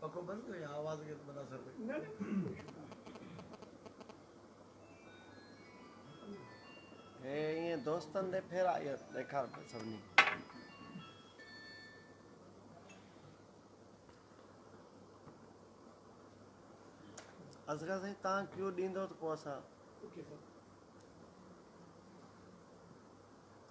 پکو بند ڪيو يا آواز کي بند اثر پئي هي ائين دوستن ڏي ڦيرا اهي ڏيکار پئي سڀني اصغر سائين تان ڪيو ڏيندو ته پوء اسان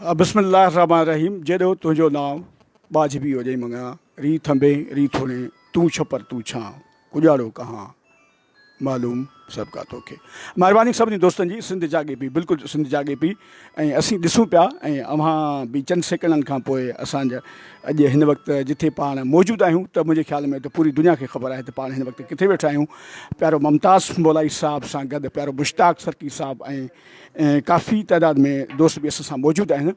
بسم الله الرحمٰن الرحيم جيڏو تنهنجو نانء ٻاجهه به هجئي مڱان ري ٿنڀي ري ٿوڻي تون ڇپر تون ڇانء اجاڙو ڪهان معلوم سڀ ڪا توکي مهرباني سڀني دوستن جي سنڌ جاڳي پي بلڪل سنڌ جاڳي پي ۽ اسين ڏسون پيا ۽ اوهان به چند سيڪنڊن کان پوء اسان جا اڄ هن وقت جٿي پاڻ موجود آهيون ته منهنجي خيال ۾ ته پوري دنيا کي خبر آهي ته پاڻ هن وقت ڪٿي ويٺا آهيون پيارو ممتاز مولائي صاحب سان گڏ پيارو مشتاق سرڪي صاحب ۽ ڪافي تعداد ۾ دوست به اسان سان موجود آهن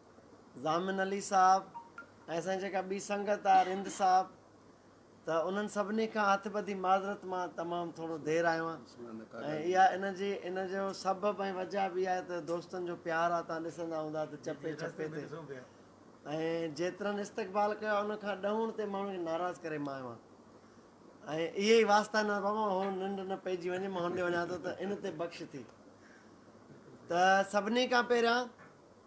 ضامن علي صاحب ۽ اسان جي جيڪا ٻي سنگت آهي رند صاحب ته انهن سڀني کان هٿ ٻڌي معذرت مان تمام ٿورو دير آيو آهيان ۽ اها ان جي ان جو سبب ۽ وجه به اها آهي ته دوستن جو پيار آهي تان ڏسندا هوندا ته چپي چپي تي ۽ جيترن استقبال ڪيو آهي ان کان ڏهون تي ماڻهن کي ناراض ڪري مان آيو آهيان ۽ اهي ئي واسطا نه بابا هو ننڊ نه پئجي وڃي مان هنڏي وڃان ٿو ته ان تي بخش ٿي ته سڀني کان پهريان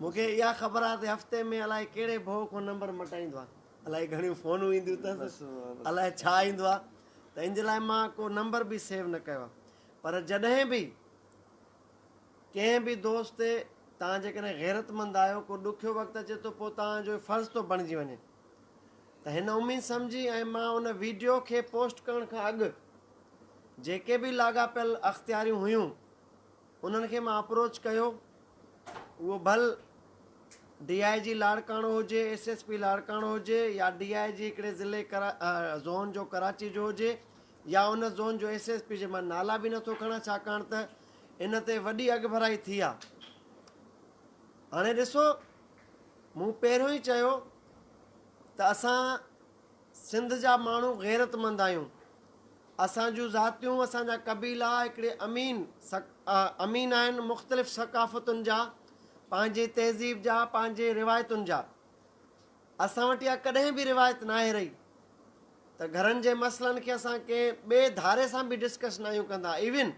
مون کي اها خبر آهي ته هفتي ۾ الائي ڪهڙي ڀؤ کان نمبر مٽائيندو آهي. الائي گهڻيون فونون اينديون اٿس. الائي ڇا ايندو آهي. ته ان جي لاء مان ڪو نمبر به سيو نه ڪيو آهي. پر جڏهن به ڪنهن به دوست تي توهان جيڪڏهن غيرتمند آهيو، ڪو ڏکيو وقت اچي ٿو پوء توهان جو فرض ٿو بڻجي وڃي. ته هن اميد سمجهي ۽ مان ان ويڊيو کي پوسٽ ڪرڻ کان اڳ جيڪي به لاڳاپيل اختياريون هيون، انهن کي مان اپروچ ڪيو اهو ڀل ڊي آء جي لاڙڪاڻو هجي ايس ايس پي لاڙڪاڻو هجي يا ڊي آء جي هڪڙي ضلعي زون جو ڪراچي جو هجي يا ان زون جو ايس ايس پي جي مان نالا به نٿو کڻان ڇاڪاڻ ته ان تي وڏي اڳڀرائي ٿي آ هاڻي ڏسو مون پهريون ئي چيو ته اسان سنڌ جا ماڻهو غيرتمند آهيون. اسان جون ذاتيون، اسان جا قبيلا هڪڙي امين امين آهن مختلف ثقافتن جا، پنهنجي تهذيب جا، پنهنجي روايتن جا. اسان وٽ اها ڪڏهن به روايت ناهي رهي ته گهرن جي مسئلن کي اسان ڪنهن ٻئي ڌاري سان به ڊسڪس ناهيون ڪندا ايون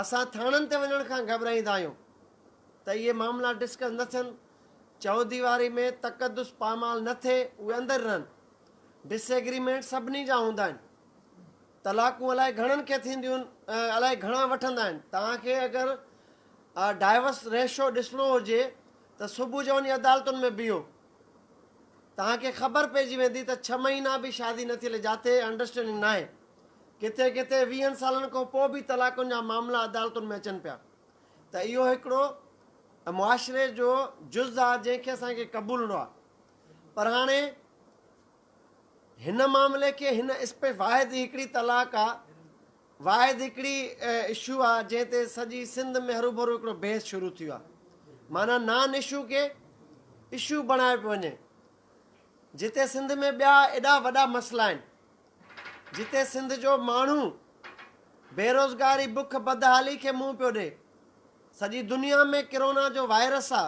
اسان ٿاڻن تي وڃڻ کان گهٻرائيندا آهيون ته اهي معاملا ڊسڪس نه ٿين، چوديواري ۾ تقدس پامال نه ٿئي، اهي اندر رهن. ڊس ايگريمينٽ سڀني جا هوندا آهن. طلاقون الائي گهڻن کي ٿينديون ۽ الائي گهڻا وٺندا آهن. توهان کي اگر ڊائيورس ريشو ڏسڻو هجي ته صبح جو وڃي عدالتن ۾ بيهو. توهان کي خبر پئجي ويندي ته ڇهه مهينا به شادي نه ٿيل جاتي انڊرسٽينڊنگ ناهي. ڪٿي ڪٿي ويهن سالن کان پوء به طلاقن جا معاملا عدالتن ۾ اچن پيا ته اهو هڪڙو معاشري جو جز آ جنهن کي اسان کي قبولڻو آ پر هاڻي هن معاملي کي هن اسپي واحد هڪڙي طلاق آ واحد هڪڙي اشو آ جنهن تي سڄي سنڌ ۾ هرو ڀرو هڪڙو بحث شروع ٿيو آ معنيٰ نان اشو کي اشو بڻايو پيو وڃي جتي سنڌ ۾ ٻيا ايڏا وڏا مسئلا آهن جتي سنڌ جو ماڻهو بيروزگاري، بک، بدحالي کي منهن پيو ڏئي. سڄي دنيا ۾ ڪرونا جو وائرس آ،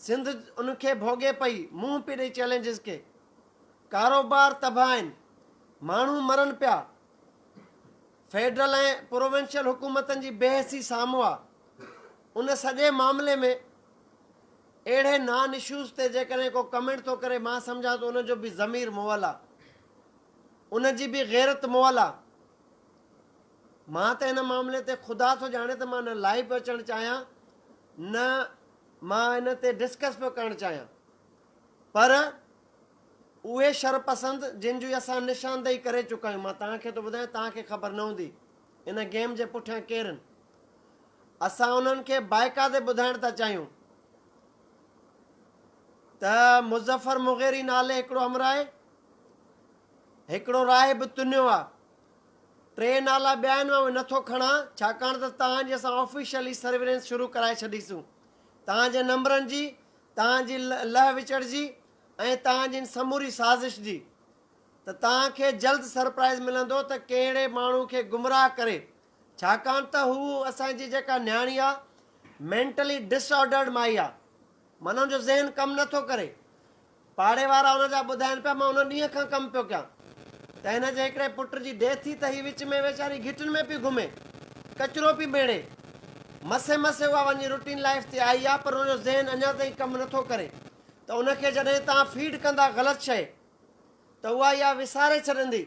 سنڌ ان کي ڀوڳي پئي، منهن پئي ڏئي چئلينجز کي. ڪاروبار تباهه آهن، ماڻهو مرن پيا. فيڊرل ۽ پروونشل حڪومتن جي بي حسي سامهون آ. ان سڄي معاملي ۾ اهڙي نان اشوز تي جيڪڏهن ڪو ڪمينٽ ٿو ڪري مان سمجهان ٿو ان جو به ضمير مئل آ. ان جي به غيرت مئل آ. مان ته ان معاملي تي خدا ٿو ڄاڻي ته مان نه لائيو پيو اچڻ چاهيان نه مان ان تي ڊسڪس پيو ڪرڻ چاهيان پر اهي شرپسند جن جي اسان نشاندهي ڪري چڪا آهيون مان توهان کي ٿو ٻڌايان توهان کي خبر نه هوندي ان گيم جي پٺيان ڪيرن اسان انهن کي بائقاعدي ٻڌائڻ ٿا چاهيون ته مظفر مغيري نالي هڪڙو همراهه هڪڙو راهي به تنيو آ. ٽي نالا ٻيا آهن اهي نٿو کڻان ڇاڪاڻ ته توهان جي اسان آفيشلي سرورينس شروع ڪرائي ڇڏيسون. توهان جي نمبرن جي، توهان جي لهه وچڙ جي ۽ توهان جي ان سموري سازش جي. ته توهان کي جلد سرپرائيز ملندو ته ڪهڙي ماڻهو کي گمراهه ڪري ڇاڪاڻ ته هو اسان جي جيڪا نياڻي آ مينٽلي ڊس آرڊرڊ مائي آ. معنيٰ ان جو ذهن ڪم نٿو ڪري. پاڙي وارا ان جا ٻڌائين پيا مان ان ڏينهن کان ڪم پيو ڪيان ته هن جي هڪڙي پٽ جي ڊيٿ ٿي ته هي وچ ۾ ويچاري گهٽين ۾ پئي گهمي ڪچرو پئي ميڙي مسي مسي اها وڃي روٽين لائيف تي آئي آ پر ان جو ذهن اڃا تائين ڪم نه ٿو ڪري ته ان کي جڏهن توهان فيڊ ڪندا غلط شئي ته اها اها وساري ڇڏندي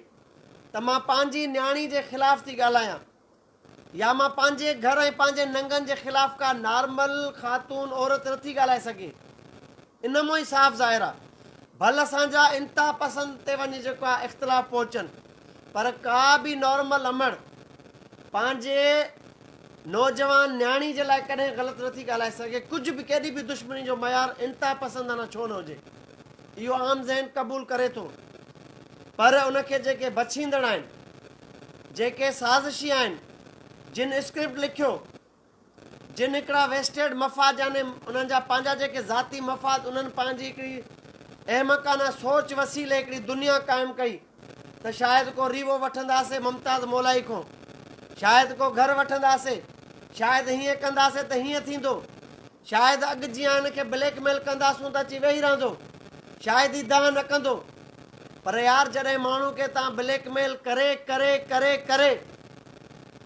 ته مان پنهنجي نياڻي جي خلاف ٿي ڳالهايان يا مان پنهنجي گهر ۽ پنهنجي ننگن جي خلاف ڪا نارمل خاتون عورت نه ٿي ڳالهائي سگهي. ان مون ئي صاف ظاهر آ. ڀل اسان جا انتها پسند تي وڃي جيڪو آ اختلاف پهچن پر ڪا به نارمل امڙ پنهنجي نوجوان نياڻي جي لاء ڪڏهن غلط نه ٿي ڳالهائي سگهي ڪجهه به ڪيڏي به دشمني جو معيار انتها پسندانه ڇو نه هجي. اهو عام ذهن قبول ڪري ٿو پر ان کي جيڪي بڇيندڙ آهن، جيڪي سازشي آهن، جن اسڪرپٽ لکيو، جن هڪڙا ويسٽيڊ مفاد يعني انهن جا پنهنجا جيڪي ذاتي مفاد انهن پنهنجي هڪڙي احمقانه سوچ وسيلي هڪڙي دنيا قائم ڪئي، ته شايد ڪو ريوو وٺنداسين ممتاز مولائي کون، شايد ڪو گهر وٺنداسين، شايد هيئن ڪنداسين ته هيئن ٿيندو، شايد اڳ جيان هن کي بليڪ ميل ڪنداسون ته اچي ويهي رهندو، شايد هي دانهن نه ڪندو. پر يار جڏهن ماڻهو کي توهان بليڪ ميل ڪري ڪري ڪري ڪري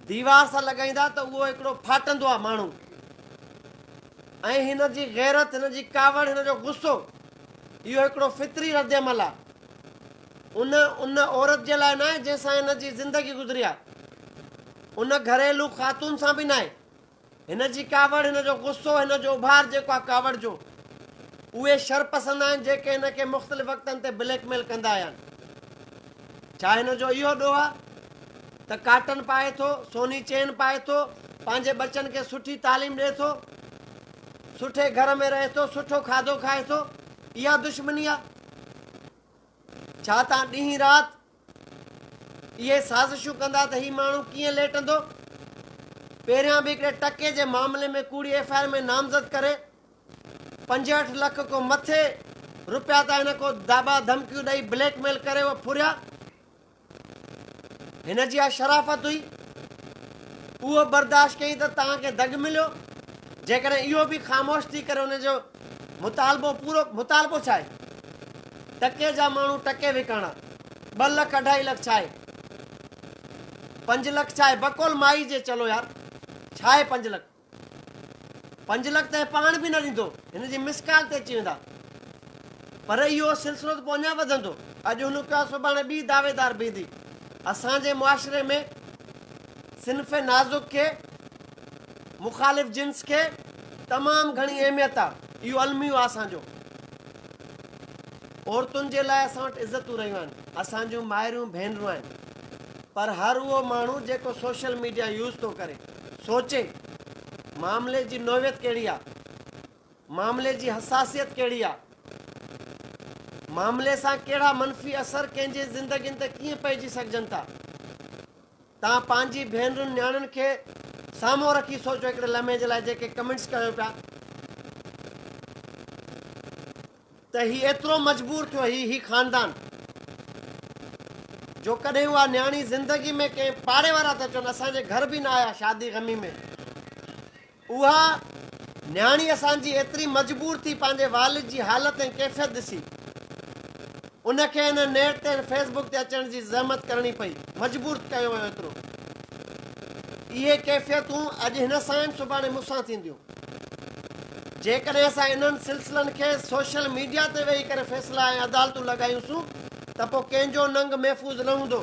ديوار سان لڳائيندا ته اهو هڪڙو ڦاٽندو آهي ماڻهو ۽ هن جي غيرت، هن جي ڪاوڙ، هن جو غصو اهو هڪڙو فطري ردعمل آهي. ان ان عورت جي لاء ناهي جنهن سان هن جي زندگي گذري آهي. ان گهريلو خاتون سان به ناهي. هن جي ڪاوڙ، هن جو غصو، هن جو اڀار جيڪو آهي ڪاوڙ جو. اهي شرپسند آهن جيڪي هن کي مختلف وقتن تي بليڪ ميل ڪندا آيا آهن. ڇا هن جو اهو ڏوهه آهي ته ڪاٽن پائي ٿو، سوني چين پائي ٿو، پنهنجي ٻچن کي سٺي تعليم ڏئي ٿو، سٺي گهر ۾ رهي ٿو، سٺو کاڌو کائي ٿو، اها دشمني آهي؟ ڇا توهان ڏينهن رات اهي سازشون ڪندا ته هي ماڻهو ڪيئن ليٽندو؟ پهريان به هڪڙي ٽڪي جي معاملي ۾ ڪوڙي ايف آء آر ۾ نامزد ڪري پنجهٺ لک کون مٿي روپيا ته هن کون داٻا ڌمڪيون ڏئي بليڪ ميل ڪري اهي ڦريا. هن جي اها شرافت هئي. اهو برداشت ڪيائين ته توهان کي دڳ مليو. جيڪڏهن اهو به خاموش ٿي ڪري ان جو مطالبو پورو مطالبو ڇا آهي؟ ٽڪي جا ماڻهو ٽڪي وڪاڻا. ٻه لک اڍائي لک ڇا آهي؟ پنج لک ڇا آهي؟ بقول مائي جي چلو يار ڇا آهي پنج لک؟ پنج لک ته هي پاڻ به نه ڏيندو، هن جي مس ڪال تي اچي ويندا. پر اهو سلسلو ته پوء اڃا وڌندو. اڄ هن کان سڀاڻي ٻي دعويدار بيهندي. اسان جي معاشري ۾ صنف نازڪ کي، مخالف جنس کي، تمام گهڻي اهميت آ. اهو الميو آ اسان جو. عورتن جي لاء اسان وٽ عزتون رهيون آهن. اسان جون مائريون ڀينرون آهن. پر هر اهو ماڻهو جيڪو سوشل ميڊيا يوز ٿو ڪري. سوچي، معاملي جي نوعيت ڪهڙي آ؟ معاملي جي حساسيت ڪهڙي آ؟ معاملي سان ڪهڙا منفي اثر ڪنهن جي زندگين تي ڪيئن پئجي سگهجن ٿا؟ توهان پنهنجي ڀينرن نياڻين کي سامهون رکي سوچو هڪڙي لمحي جي لاء جيڪي ڪمينٽس ڪيو پيا. ته هي ايترو مجبور ٿيو هي هي خاندان جو ڪڏهن اها نياڻي زندگي ۾ ڪنهن پاڙي وارا ته چون اسان جي گهر به نه آيا شادي غمي ۾ اها نياڻي اسان جي ايتري مجبور ٿي پنهنجي والد جي حالت ۽ ڪيفيت ڏسي ان کي هن نيٽ تي فيس بڪ تي اچڻ جي زحمت ڪرڻي پئي مجبور ڪيو ويو ايترو اهي ڪيفيتون اڄ هن سان آهن سڀاڻي مون سان ٿينديون. جيڪڏهن اسان انهن سلسلن کي سوشل ميڊيا تي ويهي ڪري فيصلا ۽ عدالتون لڳايونسون ته پوء ڪنهن جو ننگ محفوظ نه هوندو.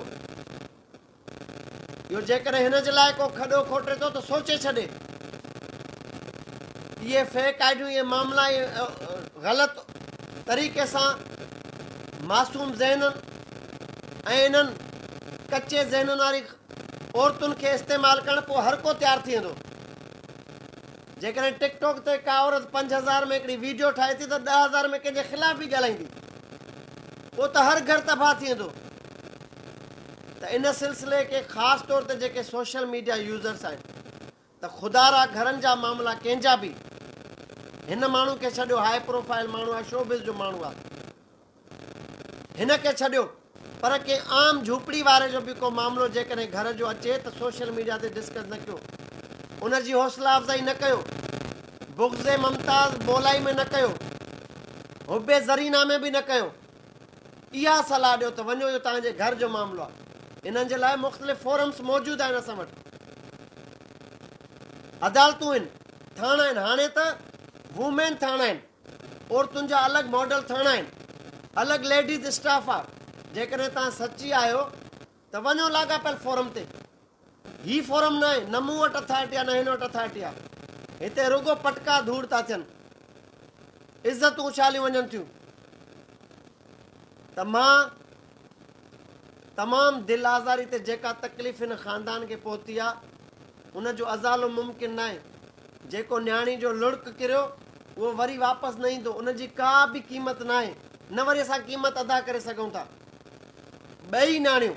اهو جيڪڏهن هن جي لاء ڪو کڏو کوٽي ٿو ته سوچي ڇڏي. اهي فيڪ آئيڊيون اهي معاملا اهي غلط طريقي سان معصوم ذهنن ۽ انهن ڪچي ذهنن واري عورتن کي استعمال ڪرڻ پوء هر ڪو تيار ٿي ويندو. جيڪڏهن ٽڪ ٽاڪ تي ڪا عورت پنج هزار ۾ هڪڙي ويڊيو ٺاهي ٿي ته ڏهه هزار ۾ ڪنهن جي خلاف به ڳالهائيندي پوء ته هر گهر تباهه ٿي ويندو ته ان سلسلي کي خاص طور تي جيڪي سوشل ميڊيا يوزرس آهن ته خدارا گهرن جا معاملا ڪنهن جا به هن ماڻهو کي ڇڏيو هاء پروفائل ماڻهو آهي شو بز جو ماڻهو آهي. هن کي ڇڏيو پر ڪنهن عام جهوپڙي واري جو به ڪو معاملو جيڪڏهن گهر جو اچي ته سوشل ميڊيا تي ڊسڪس نه ڪيو، ان جي حوصلا افزائي نه ڪيو، بغض ممتاز بولائي ۾ نه ڪيو، حب زرينه ۾ به نه ڪيو. اها صلاح ڏيو ته وڃو اهو توهان جي گهر جو معاملو آهي. انهن جي لاء مختلف فورمز موجود آهن اسان وٽ. عدالتون آهن، ٿاڻا آهن، هاڻي ته وومين ٿاڻا آهن. عورتن جا الڳ ماڊل ٿاڻا آهن، الڳ ليڊيز اسٽاف آ، جيڪڏهن توهان سچي آهيو ته وڃو لاڳاپيل فورم تي. هي فورم ناهي، نه مون وٽ اٿارٽي آ نه هن وٽ اٿارٽي آ. هتي رڳو پٽڪا ڌوڙ ٿا ٿين. عزتون اڇاليون وڃن ٿيون ته مان تمام دل آزاري تي جيڪا تڪليف هن خاندان کي پهتي آ ان جو ازالو ممڪن ناهي جيڪو نياڻي جو لڙڪ ڪريو اهو وري واپس نه ايندو ان جي ڪا به قيمت ناهي نه وري اسان قيمت ادا ڪري سگهون ٿا ٻئي نياڻيون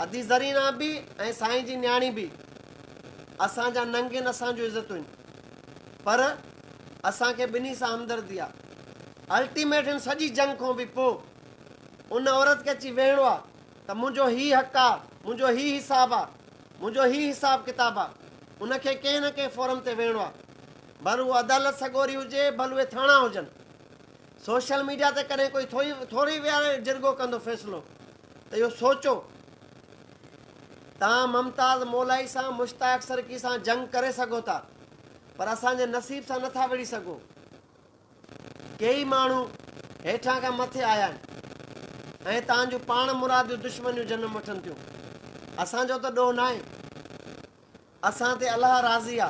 ادي زرينا به ۽ سائين جي نياڻي به اسان جا ننگين اسان جو عزتون پر اسان کي ٻنهي سان همدردي آ. الٽيميٽ هن سڄي جنگ کون به پو ان عورت کي اچي ويهڻو آ ته منهنجو هي حق آ، منهنجو هي حساب آ، منهنجو هي حساب ڪتاب آ. ان کي ڪنهن نه ڪنهن فورم تي ويهڻو آ. ڀل اهو عدالت سڳوري هجي، ڀل اهي ٿاڻا هجن. سوشل ميڊيا تي ڪڏهن ڪوئي ٿوئي ٿوري ويهاري جرڳو ڪندو فيصلو ته اهو سوچو. توهان ممتاز مولائي سان، مشتاق سرڪي سان جنگ ڪري سگهو ٿا. پر اسان جي نصيب سان نٿا وڙهي سگهون. ڪيئي ماڻهو هيٺان کان مٿي آيا آهن ۽ تان جون پاڻ مراديون دشمنيون جنم وٺن ٿيون. اسان جو ته ڏوهه ناهي. اسان تي الله راضي آ.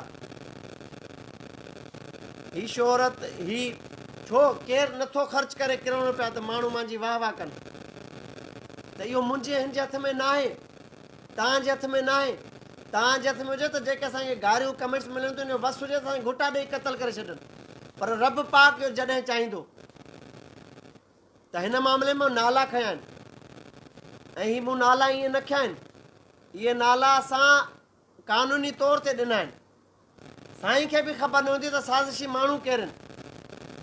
هي شهرت، هي ڇو ڪير نٿو خرچ ڪري ڪروڙين روپيا ته ماڻهو مانجي واهه واهه ڪن. ته اهو منهنجي هن جي هٿ ۾ ناهي. توهان جي هٿ ۾ ناهي. توهان جي هٿ ۾ هجي ته جيڪي اسان کي گاريون ڪمينٽس ملن ٿيون ان جو وس هجي ته اسان کي گهوٽا ڏيئي قتل ڪري ڇڏن پر رب پاڪ جو جڏهن چاهيندو ته هن معاملي ۾ نالا کنيا آهن ۽ هي مون نالا ائين نه کنيا آهن اهي نالا اسان قانوني طور تي ڏنا آهن سائين کي به خبر نه هوندي ته سازشي ماڻهو ڪيرن.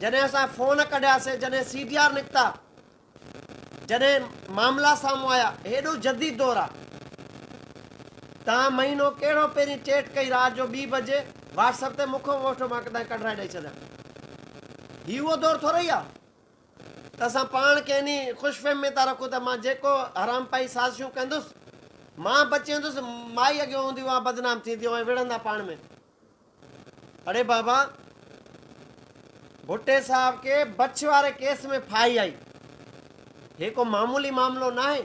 جڏهن اسان فون ڪڍياسين، جڏهن سي ڊي آر نڪتا، جڏهن معاملا سامهون آيا، هيڏو جديد دور آ. تان مهينو ڪهڙو پهرين چيٽ ڪئي رات جو ٻي بجي واٽس اپ تي مون کان ووٽ مان ڪڏهن ڪڍرائي ڏئي ڇڏيان. هي اهو دور ٿورئي آ. ته اسان پاڻ کي انهي خوش فهم ۾ ٿا رکون ته مان جيڪو حرامپائي سازشون ڪندس، مان بچي ويندس، مائي اڳيون هونديون اوهان بدنام ٿينديون ۽ وڙهندا پاڻ ۾. اڙي بابا! ڀٽي صاحب کي بڇ واري ڪيس ۾ ڦاهي آئي. هي ڪو معمولي معاملو ناهي.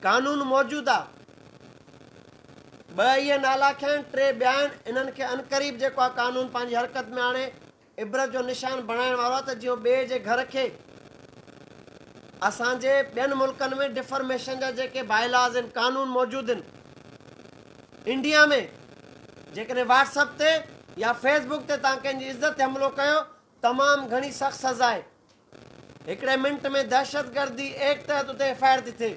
قانون موجود آ. ٻه اهي نالاکيا آهن، ٽي ٻيا آهن، انهن کي عنقريب جيڪو آ قانون پنهنجي حرڪت ۾ آڻي، عبرت جو نشان بڻائڻ وارو آهي ته جيئن ٻئي جي گهر کي اسان جي ٻين ملڪن ۾ ڊفرميشن جا جيڪي بائي لاز آهن قانون موجود آهن انڊيا ۾ جيڪڏهن واٽس اپ تي يا فيس بڪ تي تان ڪنهن جي عزت تي حملو ڪيو تمام گهڻي سخت سزا آهي هڪڙي منٽ ۾ دهشتگردي ايڪٽ تحت اتي ايف آء آر ٿي ٿئي.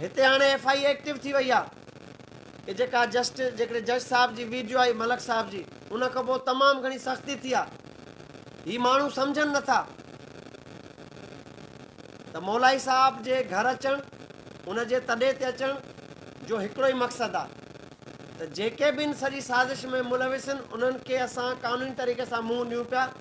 هتي هاڻي ايف آء اي ايڪٽو ٿي وئي آهي ته جيڪا جسٽ جيڪڏهن جج صاحب جي ويڊيو آئي ملڪ صاحب جي ان کان پوء تمام گهڻي سختي ٿي آهي. هي ماڻهو سمجهن نه ٿا ته مولائي صاحب جي گهر اچڻ ان جي تڏي تي اچڻ جو هڪڙو ئي مقصد آهي ته جيڪي به ان سڄي سازش ۾ ملوث آهن انهن کي اسان قانوني طريقي سان منهن ڏيون پيا.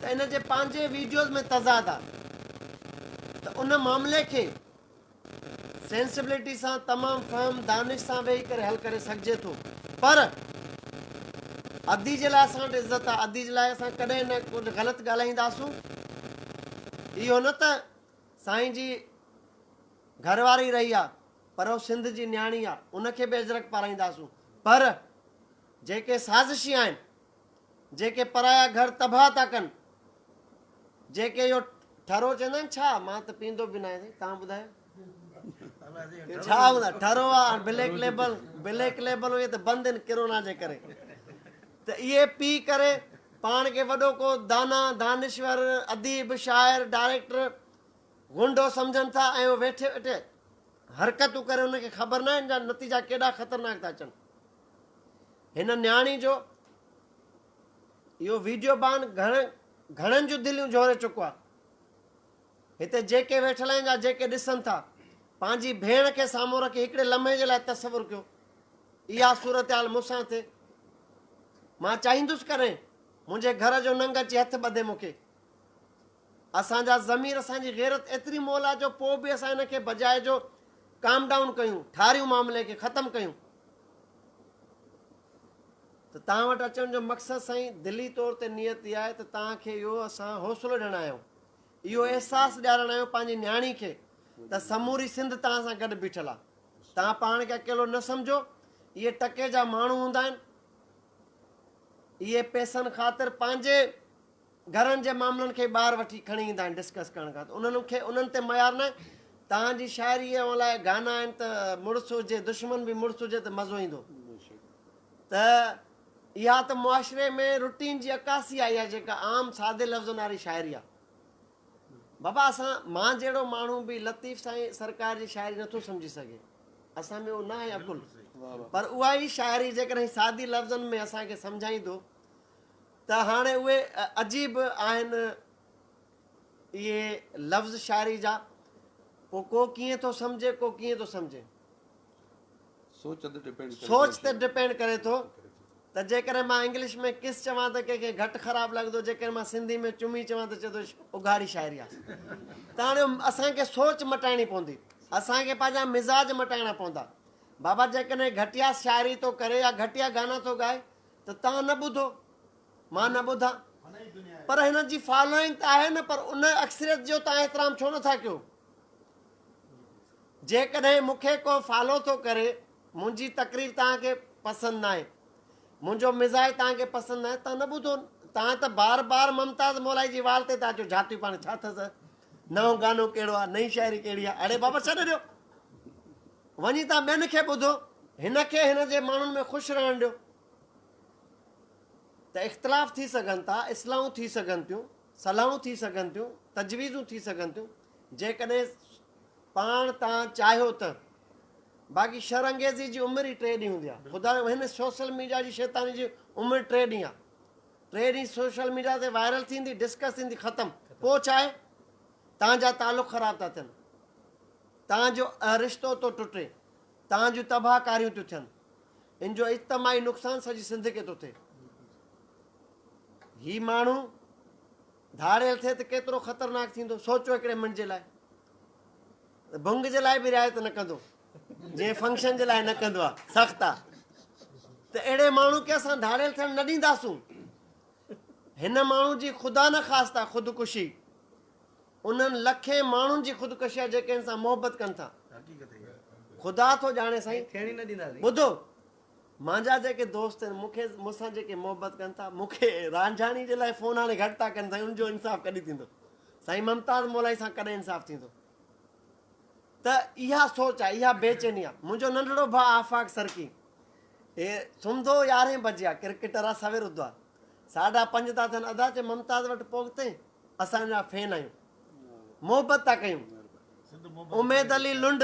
ته ان جي پنهنجي ويڊيوز ۾ تضاد آ ته ان معاملي کي سينسبلٽي سان تمام فهم دانش سان ويهي ڪري حل ڪري سگهجي ٿو پر ادي جي لاء اسان وٽ عزت آ ادي جي لاء اسان ڪڏهن نه ڪجهه غلط ڳالهائينداسون اهو نه ته سائين جي گهر واري رهي آ پر اهو سنڌ جي نياڻي آ ان کي به اجرڪ پارائينداسون پر جيڪي سازشي آهن جيڪي پرايا گهر تباهه ٿا ڪن جيڪي اهو ٺرو چوندا آهن ڇا مان ته پيئندو به ناهي سائين توهان ٻڌايو ڇا هوندا ٺرو آهي بليڪ ليبل بليڪ ليبل اهي ته بند آهن ڪرونا جي ڪري ته اهي پي ڪري پاڻ کي وڏو ڪو دانا دانشور اديب شاعر ڊائريڪٽر غنڊو سمجھن ٿا ۽ اهو ويٺي ويٺي حرڪتون ڪري انهن کي خبر نه آهن جا نتيجا ڪيڏا خطرناڪ ٿا اچن هن نياڻي جو اهو ويڊيو بان گهڻ گهڻن جون دليون جهوري چڪو آهي هتي جيڪي ويٺل آهن جا جيڪي ڏسن ٿا پنهنجي ڀيڻ کي سامهون رکي هڪڙي لمحي جي لاء تصور ڪيو اها صورتحال مون سان ٿي مان چاهيندس ڪرين منهنجي گهر جو ننگ اچي هٿ ٻڌي مون کي اسان جا ضمير اسان جي غيرت ايتري مئل آ جو پوء به اسان ان کي بجاء جو ڪام ڊائون ڪيون ٺاريون معاملي کي ختم ڪيون ته توهان وٽ اچڻ جو مقصد سائين دلي طور تي نيت اها آهي ته توهان کي اهو اسان حوصلو ڏيڻ آيا آهيون اهو احساس ڏيارڻ آيا آهيون پنهنجي نياڻي کي ته سموري سنڌ توهان سان گڏ بيٺل آهي توهان پاڻ کي اڪيلو نه سمجهو اهي ٽڪي جا ماڻهو هوندا آهن اهي پيسن خاطر پنهنجي گهرن جي معاملن کي ٻاهر وٺي کڻي ايندا آهن ڊسڪس ڪرڻ کان ته انهن کي انهن تي معيار نه آهي توهان جي شاعري اوهان لاء گانا آهن ته مڙس هجي دشمن به مڙس هجي ته مزو ايندو ته اها ته معاشري ۾ روٽين جي عڪاسي آهي اها جيڪا عام سادي لفظن واري شاعري آهي بابا اسان مان جهڙو ماڻهو به لطيف سائين سرڪار جي شاعري نٿو سمجهي سگهي اسان ۾ اهو نه آهي عقل پر اها ئي شاعري جيڪڏهن سادي لفظن ۾ اسان کي سمجهائيندو ته هاڻي اهي عجيب آهن اهي لفظ شاعري جا، پوء ڪو ڪيئن ٿو سمجهي ڪو ڪيئن ٿو سمجهي. سوچ تي ڊپينڊ ڪري ٿو ته جيڪڏهن مان انگلش ۾ ڪس چوان ته ڪنهن کي گهٽ خراب لڳندو جيڪڏهن مان سنڌي ۾ چمي چوان ته چوندو اگهاڙي شاعري آهي ته هاڻي اسان کي سوچ مٽائڻي پوندي اسان کي پنهنجا مزاج مٽائڻا پوندا بابا جيڪڏهن گهٽيا شاعري ٿو ڪري يا گهٽيا گانا ٿو ڳائي ته توهان نه ٻڌو، مان نه ٻڌان. پر هنن جي فالوئنگ ته آهي نه پر ان اڪثريت جو توهان احترام ڇو نه ٿا ڪيو؟ جيڪڏهن مون کي ڪو فالو ٿو ڪري، منهنجي تقرير توهان کي پسند ناهي، منهنجو مزاج توهان کي پسند ناهي، توهان نه ٻڌو، توهان ته بار بار ممتاز مولائي جي وال تي ٿا اچو، جھاتيون پاڻ ڇا اٿس، نئون گانو ڪهڙو آهي، نئين شاعري ڪهڙي آهي، اڙي بابا ڇڏي ڏيو. وڃي تان ٻين کي ٻڌو، هن کي هن جي ماڻهن ۾ خوش رهڻ ڏيو ته اختلاف ٿي سگهن ٿا، اصلاحون ٿي سگهن ٿيون، صلاحون ٿي سگهن ٿيون، تجويزون ٿي سگهن ٿيون، جيڪڏهن پاڻ تان چاهيو ته. باقي شر انگيزي جي عمر ئي ٽي ڏينهن هوندي آهي. خدا هن سوشل ميڊيا جي شيطاني جي عمر ٽي ڏينهن آهي. ٽي ڏينهن سوشل ميڊيا تي وائرل ٿيندي، ڊسڪس ٿيندي، ختم. پوء ڇا آهي؟ تان جا تعلق خراب ٿا ٿين. تان جو اھه رشتو ٿو ٽٽي، تان جون تباھ ڪاريون ٿيون ٿين، ان جو اجتماعي نقصان سڄي سنڌ کي ٿو ٿئي. ھي ماڻھو ڌاڙيل ٿئي ته ڪيترو خطرناڪ ٿيندو، سوچو ھڪڙي منٽ جي لاء. ڀنگ جي لاء به رعايت نه ڪندو، جيئن فنڪشن جي لاء نه ڪندو آ، سخت آ. ته اھڙي ماڻھو کي اسان ڌاڙيل ٿيڻ نه ڏينداسون. ھن ماڻھو جي خدا نخواسته خودڪشي انهن لکين ماڻهن جي خودڪشي آهي جيڪي هن سان محبت ڪن ٿا. خدا ٿو ڄاڻي سائين. ٻڌو مانجا جيڪي دوست آهن مون کي مون سان جيڪي محبت ڪن ٿا مون کي رانجهاڻي جي لاء فون هاڻي گهٽ ٿا ڪن سائين ان جو انصاف ڪڏهن ٿيندو سائين ممتاز مولائي سان ڪڏهن انصاف ٿيندو ته اها سوچ آهي اها بيچيني آهي منهنجو ننڍڙو ڀاء آفاق سرڪي اي سمھندو يارهين بجي آ ڪرڪيٽر آ سوير اٿدو آ ساڍا پنج ٿا ٿين ادا چي ممتاز وٽ پهتين اسان جا فين آهيون محبت ٿا ڪيون. اميد علي لنڊ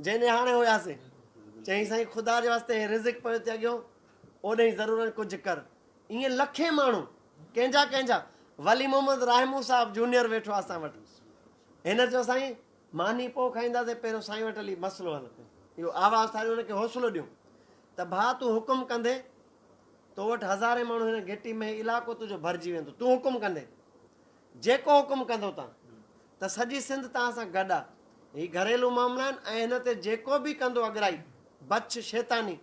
جنهن نهاڻي هياسين چيائين سائين خدا جي واسطي هي رزق پيو ٿي اڳيو اوڏهين ضرورن ڪجهه ڪر ائين لکين ماڻهو ڪنهن جا ڪنهن جا ولي محمد راهمون صاحب جونيئر ويٺو آهي اسان وٽ هن چيو سائين ماني پوء کائينداسين پهريون سائين وٽ هلي مسئلو حل ڪيو اهو آواز ٺاهيو هن کي حوصلو ڏيون ته ڀاء تون حڪم ڪندين تو وٽ هزارين ماڻهو هن گهٽي ۾ هي علاقو تنهنجو ڀرجي ويندو تون حڪم ڪندي جيڪو حڪم ڪندو تان ته سڄي سنڌ تان سان گڏ آ هي گهريلو معاملا آهن ۽ هن تي جيڪو به ڪندو اڳرائي بڇ شيطاني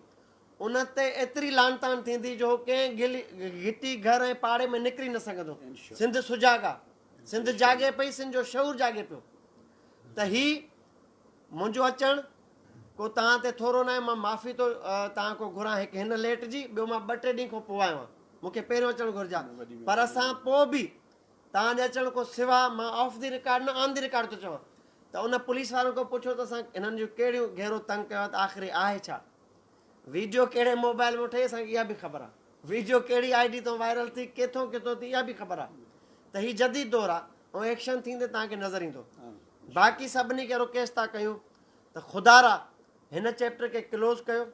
ان تي ايتري لانتان ٿيندي جو هو ڪنهن گل گهٽي گهر ۽ پاڙي ۾ نڪري نه سگهندو سنڌ سجاڳ آ سنڌ جاڳي پئي سنڌ جو شعور جاڳي پيو ته هي منهنجو اچڻ ڪو توهان تي ٿورو ناهي، مان معافي ٿو توهان کان گهران هڪ هن ليٽ جي، ٻيو مان ٻه ٽي ڏينهن کان پوء آيو آهيان، مون کي پهريون اچڻ گهرجي ها، پر ان کان پوء به توهان جي اچڻ کان سواء مان آف دي رڪارڊ نه آن دي رڪارڊ ٿو چوان ته ان پوليس وارن کان پڇو ته اسان هنن جون ڪهڙيون گهرو تنگ ڪيو آهي ته آخر هي آهي ڇا؟ ويڊيو ڪهڙي موبائل مان ٺهي اسان کي اها به خبر آهي، ويڊيو ڪهڙي آئي ڊي تان وائرل ٿي ڪٿان ڪٿان ٿي اها به خبر آهي ته هي جديد دور آهي ۽ ايڪشن ٿيندي توهان کي نظر ايندو، باقي سڀني کي رڪيس ٿا ڪيون ته خدارا هن چيپٽر کي ڪلوز ڪيو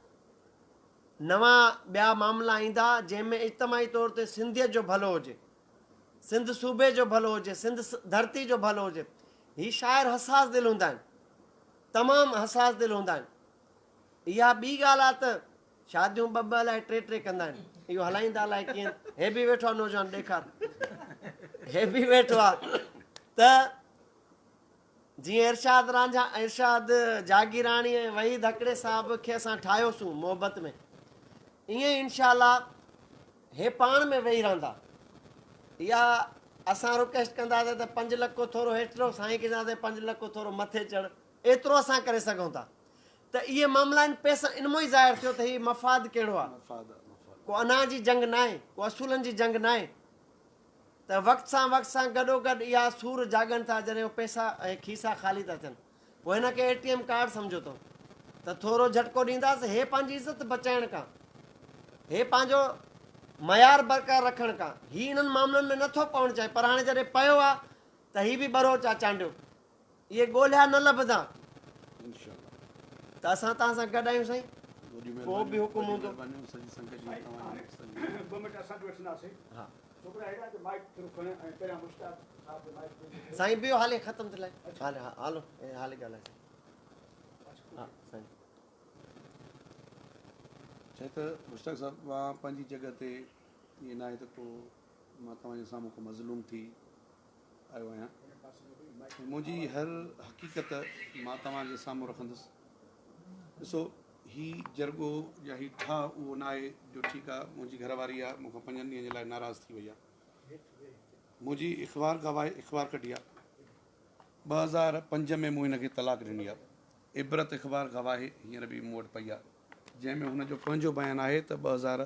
نوان ٻيا معاملا ايندا جنهن ۾ اجتماعي طور تي سنڌيت جو ڀلو هجي سنڌ صوبي جو ڀلو هجي سنڌ ڌرتي جو ڀلو هجي هي شاعر حساس دل هوندا آهن تمام حساس دل هوندا آهن اها ٻي ڳالهه آهي ته شاديون ٻه ٻه الائي ٽي ٽي ڪندا آهن اهو هلائيندا الائي ڪيئن هي به ويٺو آهي نوجوان ڏيکار هي به ويٺو آهي ته جيئن ارشاد رانجھا ارشاد جاگيراڻي ۽ وحيد هڪڙي صاحب کي اسان ٺاهيوسون محبت ۾ ائين انشاء الله هي پاڻ ۾ ويهي رهندا يا اسان رڪويسٽ ڪنداسي ته پنج لکو ٿورو هيٺ رهو سائين ڪينداسي پنج لکو ٿورو مٿي چڙ ايترو اسان ڪري سگھون ٿا ته اهي معاملا آهن پيسا ان مون ئي ظاهر ٿيو ته هي مفاد ڪهڙو آهي ڪو انا جي جنگ ناهي ڪو اصولن جي جنگ ناهي ته وقت سان وقت سان گڏو گڏ اها سور جاڳن ٿا جڏهن هو پيسا ۽ کيسا خالي ٿا ٿين پوء هن کي اي ٽي ايم ڪارڊ سمجهو اٿو ته ٿورو جھٽڪو ڏينداس هي پنهنجي عزت بچائڻ کان هي پنهنجو معيار برقرار رکڻ کان هي انهن معاملن ۾ نٿو پوڻ چاهي پر هاڻي جڏهن پيو آهي ته هي به ٻروچ آهي چانڊيو اهي ڳولهيا نه لڀندا ته اسان توهان سان گڏ آهيون سائين ڪو به حڪم هوندو. سائين بيهو هالي ختم ٿي لائي هالو هالي ڳالهاء سائين ها سائين. چي ته مشتاق صاحب مان پنهنجي جڳهه تي ائين ناهي ته ڪو مان توهان جي سامهون هڪ مظلوم ٿي آيو آهيان ۽ منهنجي هر حقيقت مان توهان جي سامهون رکندس ڏسو هي جرڳو يا هي ٺاهه اهو نه آهي جو ٺيڪ آهي منهنجي گهر واري آهي مون کان پنجن ڏينهن جي لاء ناراض ٿي وئي آهي منهنجي اخبار گواهي اخبار ڪڍي آهي ٻه هزار پنج ۾ مون هن کي طلاق ڏني آهي عبرت اخبار گواهي هينئر به مون وٽ پئي آهي جنهن ۾ هن جو پنهنجو بيان آهي ته ٻه هزار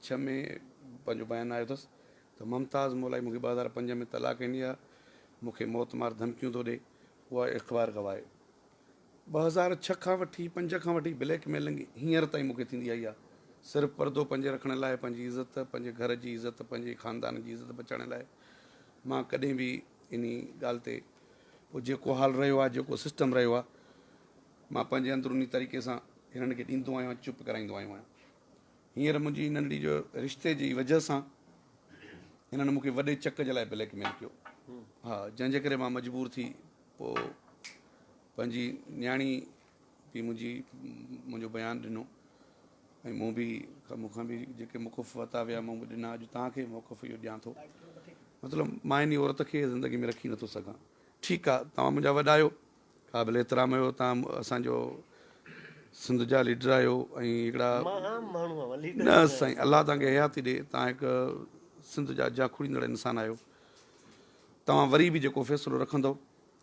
ڇهه ۾ پنهنجو بيان آيو اٿس ته ممتاز مولائي مونکي ٻه هزار پنج ۾ طلاق ڏني آهي مون کي موت مار ڌمڪيون ٿو ڏي اها اخبار گواهي ٻه هزار ڇهه کان وٺي پنج کان وٺي بليڪ ميلنگ هينئر تائين مونکي ٿيندي آئي آهي صرف پردو پنهنجي رکڻ لاء پنهنجي عزت پنهنجي گهر جي عزت پنهنجي خاندان جي عزت بچائڻ لاء مان ڪڏهن به انهي ڳالهه تي پوء جيڪو حال رهيو آهي، جيڪو سسٽم رهيو آهي، مان پنهنجي اندروني طريقي سان هنن کي ڏيندو آيو آهيان، چپ ڪرائيندو آيو آهيان. هينئر منهنجي ننڍڙي جو رشتي جي وجهه سان هنن مونکي وڏي چڪ جي لاء بليڪ ميل ڪيو. ها، جنهن جي ڪري مان مجبور ٿي پوء پنهنجي نياڻي پي منهنجي منهنجو بيان ڏنو ۽ مون به مون کان به جيڪي موقف وتا ويا مون به ڏنا اڄ تان کي موقف اهو ڏيان ٿو مطلب مان اني عورت کي زندگي ۾ رکي نٿو سگهان ٺيڪ آ توهان منهنجا وڏا آهيو قابل احترام آهيو توهان اسان جو سنڌ جا ليڊر آهيو ۽ هڪڙا نه سائين الله توهان کي حياتي ڏي توهان هڪ سنڌ جا جاکوڙيندڙ انسان آهيو توهان وري به جيڪو فيصلو رکندو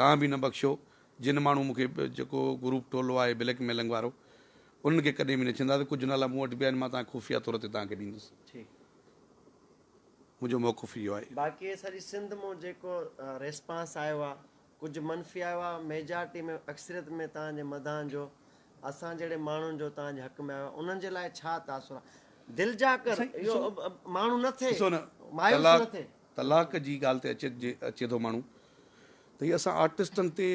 توهان به نه بخشو جن ماڻهو مون کي جيڪو گروپ ٽولو آهي بليڪ ميلنگ وارو انهن کي ڪڏهن به نه ڇندا ته ڪجهه نالا مون وٽ به آهن مان توهان کي خفيه طور تي توهان کي ڏيندس ٺيڪ منهنجو موقف اهو آهي. باقي سڄي سنڌ مون جيڪو ريسپانس آيو آ ڪجهه منفي آيو آ ميجارٽي ۾ اڪثريت ۾ توهان جي مداحن جو اسان جهڙي ماڻهن جو توهان جي حق ۾ آيو آ انهن جي لاء ڇا تاثر آ دل جا ڪر اهو ماڻهو نه ٿي مايوس نه ٿي. طلاق جي ڳالهه تي اچي ٿو ماڻهو ته هي اسان آرٽسٽن تي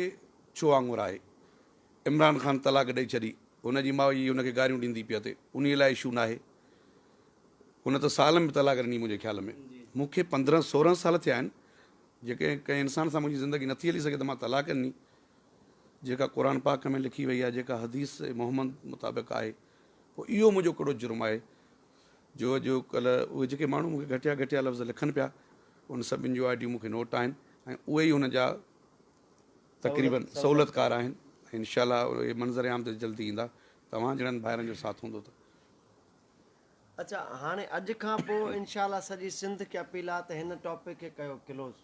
ڇو آڱر آهي. عمران خان طلاق ڏئي ڇڏي هن جي ماء جي هن کي گاريون ڏيندي پئي اٿي انهي لاء اشو ناهي هن ته سال ۾ طلاق ڏني منهنجي خيال ۾ مون کي پندرهن سورهن سال ٿيا آهن جيڪي ڪنهن انسان سان منهنجي زندگي نٿي هلي سگهي ته مان طلاق ڏني جيڪا قرآن پاڪ ۾ لکي وئي آهي جيڪا حديث محمد مطابق آهي پوء اهو منهنجو ڪهڙو جرم آهي جو اڄ ڪلهه اهي جيڪي ماڻهو مون کي گهٽيا گهٽيا لفظ لکن پيا ان سڀن جون آئيڊيون مون کي نوٽ آهن ۽ اهي ئي ان جا تقريبن سهولتڪار آهن انشاء الله اهي منظر عام تي جلدي ايندا توهان جهڙن ڀائرن جو ساٿ هوندو ته اچا هاڻي اڄ کان پوء انشاء الله سڄي سنڌ کي اپيل آهي ته هن ٽاپڪ کي ڪيو ڪلوز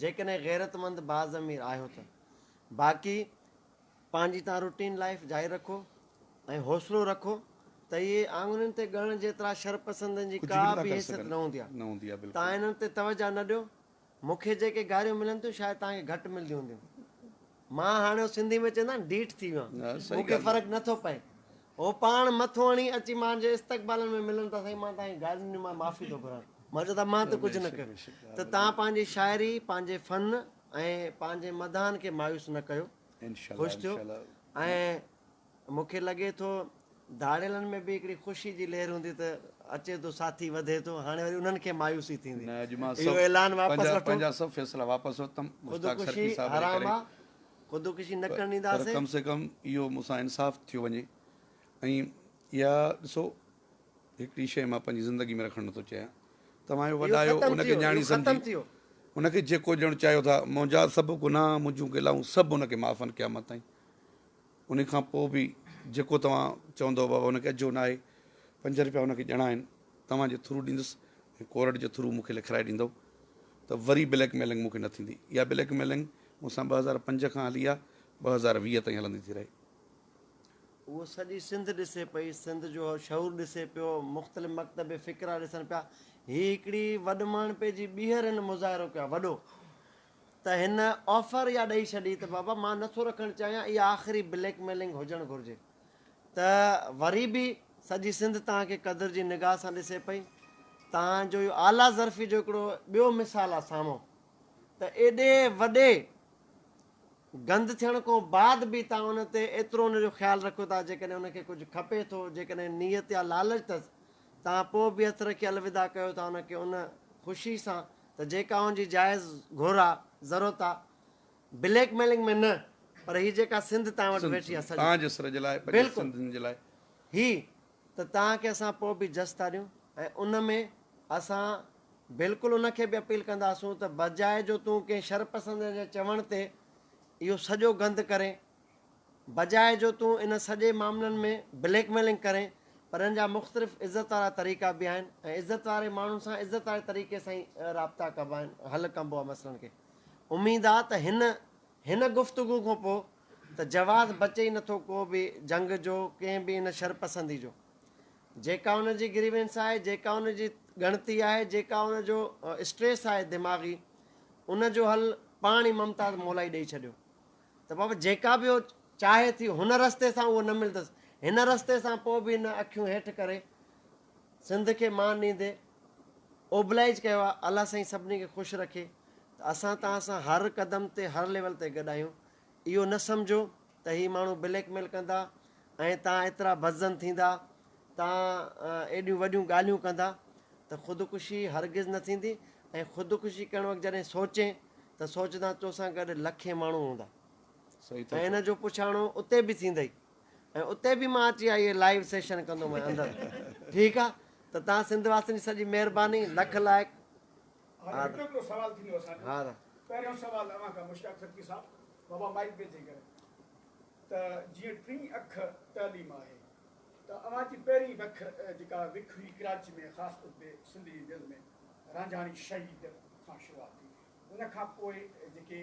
جيڪڏهن غيرتمند باضمير آهيو ته باقي پنهنجي تان روٽين لائيف جاري رکو ۽ حوصلو رکو ته اهي آڱرين تي ڳڻڻ جيترا شرپسندن جي ڪا به حيثيت نه هوندي آهي تان انهن تي توجهه نه ڏيو مون کي جيڪي گاريون ملن ٿيون شايد تان کي گهٽ ملنديون هونديون مان هاڻي هو سنڌي ۾ چوندا آهن ڊيٺ ٿي ويو آهيان مون کي فرق نه ٿو پئي هو پاڻ مٿو هڻي اچي مان جي استقبالن ۾ ملن ته سائين مان تان کي گارين ڏيندو مان معافي ٿو گهران مان چوندو مان ته ڪجهه نه ڪيو ته تان پنهنجي شاعري پنهنجي فن ۽ پنهنجي مداحن کي مايوس نه ڪيو. خوش ٿيو ۽ مون کي لڳي ٿو ڌاڙيلن ۾ به هڪڙي خوشي جي لهر هوندي ته اچي ٿو ساٿي وڌي ٿو هاڻي وري انهن کي مايوسي ٿيندي اهو اعلان واپس وٺو خودڪشي حرام آ خودڪشي نه ڪرڻ ڏينداسين هڪڙي شيء مان پنهنجي زندگي ۾ رکڻ نٿو چاهيان. توهان جو وڏايو ان کي نياڻي سمجهي ان کي جيڪو ڏيڻ چاهيو ٿا. منهنجا سڀ گناهه، منهنجون گلائون سڀ ان کي معاف آهن قيامت تائين. انهي کان پوء به جيڪو توهان چوندؤ بابا ان کي اجهو ناهي، پنج رپيا ان کي ڏيڻا آهن، توهان جي ٿرو ڏيندس ۽ ڪورٽ جي ٿرو مون کي لکرائي ڏيندؤ ته وري بليڪ ميلنگ مون کي نه ٿيندي. اها بليڪ ميلنگ مون سان ٻه هزار پنج کان هلي آ، ٻه هزار ويهه تائين هلندي ٿي رهي. اهو سڄي سنڌ ڏسي پئي، سنڌ جو شعور ڏسي پيو، مختلف مڪتب فڪرا ڏسن پيا. هي هڪڙي وڏماڻهپي جي ٻيهر هن مظاهرو ڪيو آهي، وڏو ته هن آفر اها ڏئي ڇڏي ته بابا مان نه ٿو رکڻ چاهيان، اها آخري بليڪ ميلنگ هجڻ گهرجي ته وري به سڄي سنڌ توهان کي قدر جي نگاهه سان ڏسي پئي. توهان جو اهو اعليٰ ظرفي جو هڪڙو ٻيو مثال آهي سامهون ته ايڏي وڏي گند ٿيڻ کان بعد به توهان ان تي ايترو ان جو خيال رکو ٿا جيڪڏهن ان کي ڪجهه کپي ٿو جيڪڏهن نيت يا لالچ ٿس توهان پوء به اٿر کي الوداع ڪيو ٿا ان کي ان خوشي سان ته جيڪا ان جي جائز گهر آ ضرورت آ بليڪ ميلنگ ۾ نه پر هي جيڪا سنڌ توهان وٽ ويٺي آ سڄي توهان جي سر جي لاء پنهنجي سنڌين جي لاء هي ته توهان کي اسان پوء به جس ٿا ڏيون ۽ ان ۾ اسان بلڪل ان کي به اپيل ڪنداسون ته بجاء جو تون ڪنهن شرپسند جي چوڻ تي اهو سڄو گند ڪرين، بجاء جو تون ان سڄي معاملن ۾ بليڪ ميلنگ ڪرين پر ان جا مختلف عزت وارا طريقا به آهن ۽ عزت واري ماڻهن سان عزت واري طريقي سان ئي رابطا ڪبا آهن حل ڪبو آهي مسئلن کي اميد آهي ته هن هن گفتگو کان پوء ته جواز بچي ئي نٿو ڪو به جنگ جو، ڪنهن به ان شرپسندي جو. جيڪا ان جي گريوينس آهي، جيڪا ان جي ڳڻتي آهي، جيڪا ان جو اسٽريس آهي دماغي، ان جو حل پاڻ ئي ممتاز مولائي ڏئي ڇڏيو ته بابا جيڪا به هو چاهي ٿي هن رستي سان اهو نه ملندس، هن رستي سان پوء به هن اکيون هيٺ ڪري سنڌ کي مان ڏيندي اوبلائج ڪيو آهي. الله سائين سڀني کي خوش رکي ته اسان توهان سان هر قدم تي هر ليول تي گڏ آهيون. اهو نه سمجهو ته هي ماڻهو بليڪ ميل ڪندا ۽ تان ايترا بدظن ٿيندا، تان ايڏيون وڏيون ڳالهيون ڪندا ته خودڪشي هرگز نه ٿيندي ۽ خودڪشي ڪرڻ وقت جڏهن سوچين ته سوچدان تو سان گڏ لکين ماڻهو هوندا ۽ ان جو پڇاڻو اتي به ٿيندئي ۽ اتي به مان اچي اهي لائيو سيشن ڪندومانء اندر ٺيڪ آ ته تان سنڌ واسين جي سڄي مهرباني لک لائق. هاڻي هڪ هڪڙو سوال ٿيندو اسان جو پهريون سوال اوهان کان مشتاق خرقي صاحب بابا مائيڪ به چيڪ ڪريو ته جيئن ٽين اک تعليم آهي ته اوهان جي پهرين وک جيڪا وک هئي ڪراچي ۾ خاص طور تي سنڌ جي دل ۾ رانجهاڻي شهيد کان شروعات ٿي ان کان پوء جيڪي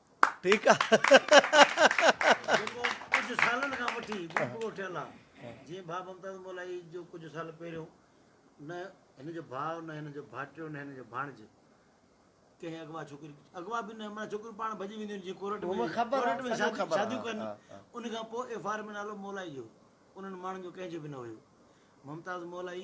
ٺيڪ آ جيڪو ڪجهه سالن کان وٺي پورو ٺهيل آ جيئن ڀاء ممتاز مولائي جو ڪجهه سال پهريون نه هن جو ڀاء نه هن جو ڀائٽيو نه هن جو ڀاڻج ڪنهن اغوا ڇوڪري اغوا به نه معنی ڇوڪريون پاڻ ڀڄي وينديون آهن جيئن ڪورٽ ۾ ڪورٽ ۾ شاديون ڪن ان کان پوء ايف آر ۾ نالو مولائي جو انهن ماڻهن جو ڪنهن جو به نه هيو ممتاز مولائي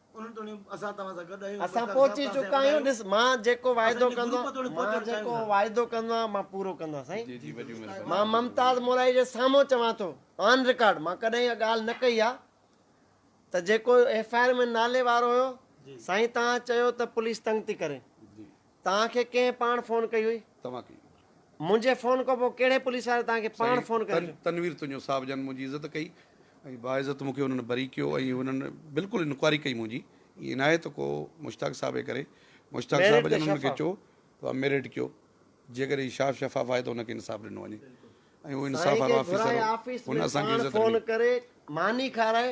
انهن توڻي اسان توهان سان گڏ آهيون. اسان پهچي چڪا آهيون ڏس مان جيڪو واعدو ڪندو آهيان مان جيڪو واعدو ڪندو آهيان مان پورو ڪندو آهيان سائين مان ممتاز مورائي جي سامهون چوان ٿو آن رڪارڊ مان ڪڏهن اها ڳالهه نه ڪئي آهي ته جيڪو ايف آء آر ۾ نالي وارو هيو سائين توهان چيو ته پوليس تنگ ٿي ڪري توهان کي ڪنهن پاڻ فون ڪئي هئي؟ توهان ڪئي. منهنجي فون کان پوء ڪهڙي پوليس واري توهان کي پاڻ فون ڪيو؟ سائين تنوير تنيو صاحب جن منهنجي عزت ڪئي ۽ باعزت مونکي انهن بري ڪيو ۽ انهن بلڪل انڪوائري ڪئي منهنجي ائين ناهي ته ڪو مشتاق صاحب جي ڪري مشتاق صاحب جن انهن کي چيو ته اوهان ميرٽ ڪيو جيڪڏهن هي شاف شفاف آهي ته انهن کي انصاف ڏنو وڃي ۽ اهو انصاف وارو آفيسر هو هن اسان کي عزت ڏني.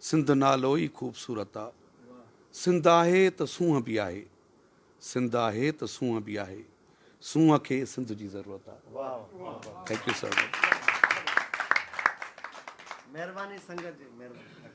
سنڌ نالو ئي خوبصورت آ. سنڌ آهي ته سونهن به آهي. سنڌ آهي ته سونهن به آهي. سونهن کي سنڌ جي ضرورت آ. Thank you so much. مهرباني سنگت جي مهرباني.